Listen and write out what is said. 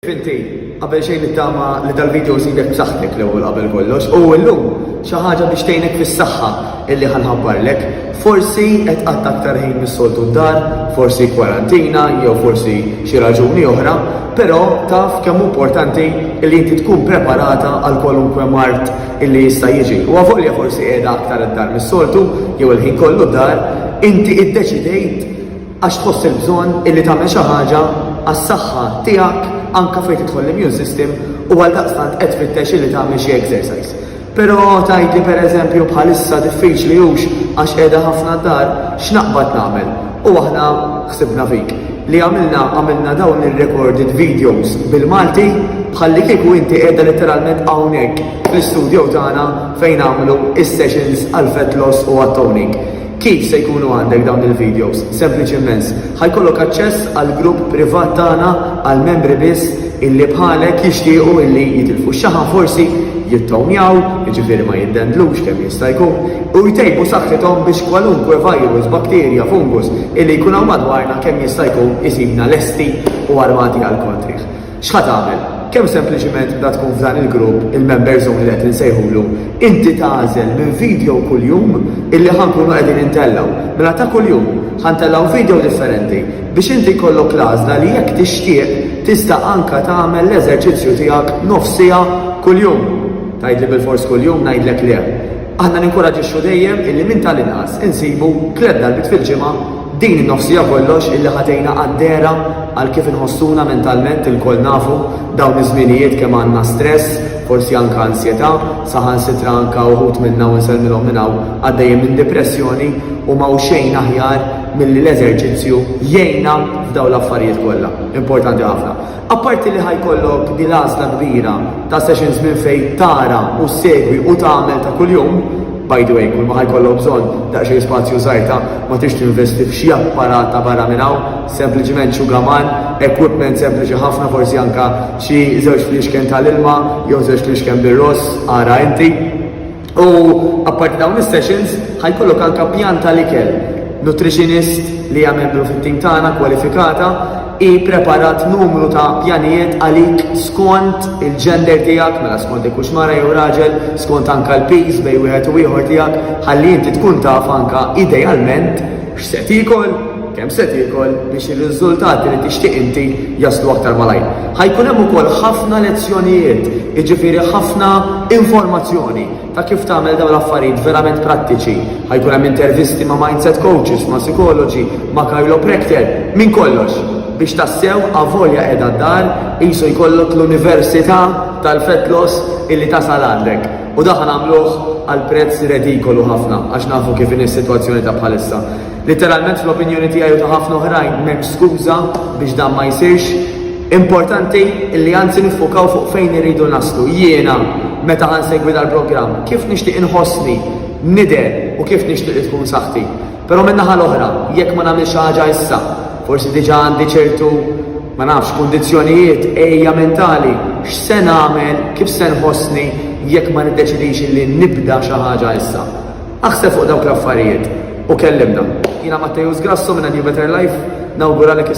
Inti, qabel xejn nittama li dal-video żidek b'saħħtek l-ewwel qabel kollox, u llum xi ħaġa biex tgħinek fis-saħħa illi ħanħabbarlek. Forsi qed qatt aktar ħin mis-soltu d-dar, forsi kwarantina jew forsi xi raġuni oħra, però taf kemm importanti li inti tkun preparata għal kwalunkwe mart illi jista' jiġi. U għavolja forsi qiegħda aktar id-dar mis-soltu jew il-ħin kollu d-dar, inti iddeċidejt għax tħoss il-bżonn illi tagħmel xi ħaġa għas-saħħa tiegħek anke fejn tidħol l-immune system u għaldaqstant qed tfittex illi tagħmel xi exercise. Però tgħid li pereżempju bħalissa diffiċli hux għax qiegħda ħafna d-dar, x'naqbad nagħmel? U aħna ħsibna fik li għamilna għamilna dawn ir-recorded videos bil-Malti bħalli kieku inti qiegħda letteralment hawnhekk fl-istudio tagħna fejn għamlu is-sessions għal fat loss u għat-toning. Kif se jkunu għandek dawn il-videos? Sempliċi immens. Ħa jkollok aċċess għal grupp privat tagħna għal membri biss illi bħalek jixtiequ illi jitilfu x-xaħam forsi jittownjaw, jiġifieri ma jiddendlux kemm jista' jkun, u jtejbu saħħithom biex kwalunkwe virus, bakterja, fungus illi jkun hawn madwarna kemm jista' jkun isibna lesti u armati għall-kontrih. X'ħa tagħmel? Kemm sempliċiment bda tkun f'dan il-grupp, il-member zone li qed insejħulu, inti tagħżel minn video kuljum illi ħa nkunu qegħdin intellgħu. Mela ta' kuljum ħa ntellgħu video differenti biex inti jkollok l-għażla li jekk tixtieq tista' anka tagħmel l-eżerċizzju tiegħek nofs siegħa kuljum. Tgħidli bil-fors kuljum ngħidlek le. Aħna ninkoraġixxu dejjem illi minn tal-inqas insibu tliet darbit fil-ġimgħa Din in-nofs siegħa kollox illi ħadejna għad-dehra għal kif inħossuna mentalment ilkoll nafu dawn iż-żmienijiet kemm għandna stress, forsi anke ansjetà, saħansitra anke uħud minna u nsellmilhom minn hawn għaddejjin minn dipressjoni u m'hawn xejn aħjar milli l-eżerċizzju jgħinna f'dawn l-affarijiet kollha. Importanti ħafna. Apparti li ħa jkollok din l-għażla kbira ta' sessions minn fejn tara u ssegwi u tagħmel ta' kuljum, by the way, kulma ħa jkollok bżonn daqsxejn spazju żgħir ta' ma tridx tinvesti f'xi apparat ta' barra minn hawn, sempliċement xugaman, equipment sempliċi ħafna forsi anke xi żewġ fliexken tal-ilma jew żewġ fliexken bir-ross, ara inti. U apparti dawn is-sessions, ħajkollok anke pjan tal-ikel. Nutritionist li hija membru fit-tim tagħna kwalifikata hi preparat numru ta' pjanijiet għalik skont il-gender tiegħek, mela skont ikux mara jew raġel, skont anke l-piż bejn wieħed u ieħor tiegħek, ħalli inti tkun taf anke idealment X'se tiekol, kemm se tiekol biex ir-riżultati li tixtieq inti jaslu aktar malajr. Ħa jkun hemm ukoll ħafna lezzjonijiet, jiġifieri ħafna informazzjoni ta' kif tagħmel dawn l-affarijiet verament prattiċi. Ħa jkun hemm intervisti ma' mindset coaches, ma' psikoloġi, ma' chiropractor, minn kollox biex tassew avolja qiegħda d-dar qisu jkollok l-università tal-fat loss illi tasal għandek. U dak nagħmluh għal prezz redikolu ħafna għax nafu kif inhi s-sitwazzjoni ta' bħalissa. Litteralment fl-opinjoni tiegħi u ta' ħafna oħrajn m'hemmx skuża biex dan ma jsirx. Importanti li anzi niffukaw fuq fejn irridu naslu. Jiena meta ħansegwi dal-programm kif nixtieq inħossni, nidher u kif nixtieq li tkun saħħti. Però min-naħa l-oħra, jekk ma nagħmilx xi ħaġa issa, forsi diġà għandi ċertu ma nafx kundizzjonijiet ejja mentali, x'se nagħmel, kif se nħossni jekk ma niddeċidix li nibda xi ħaġa issa. Aħseb fuq dawk l-affarijiet u kellimna. Jiena Mattejus Grasso minn New Better Life, nawguralek is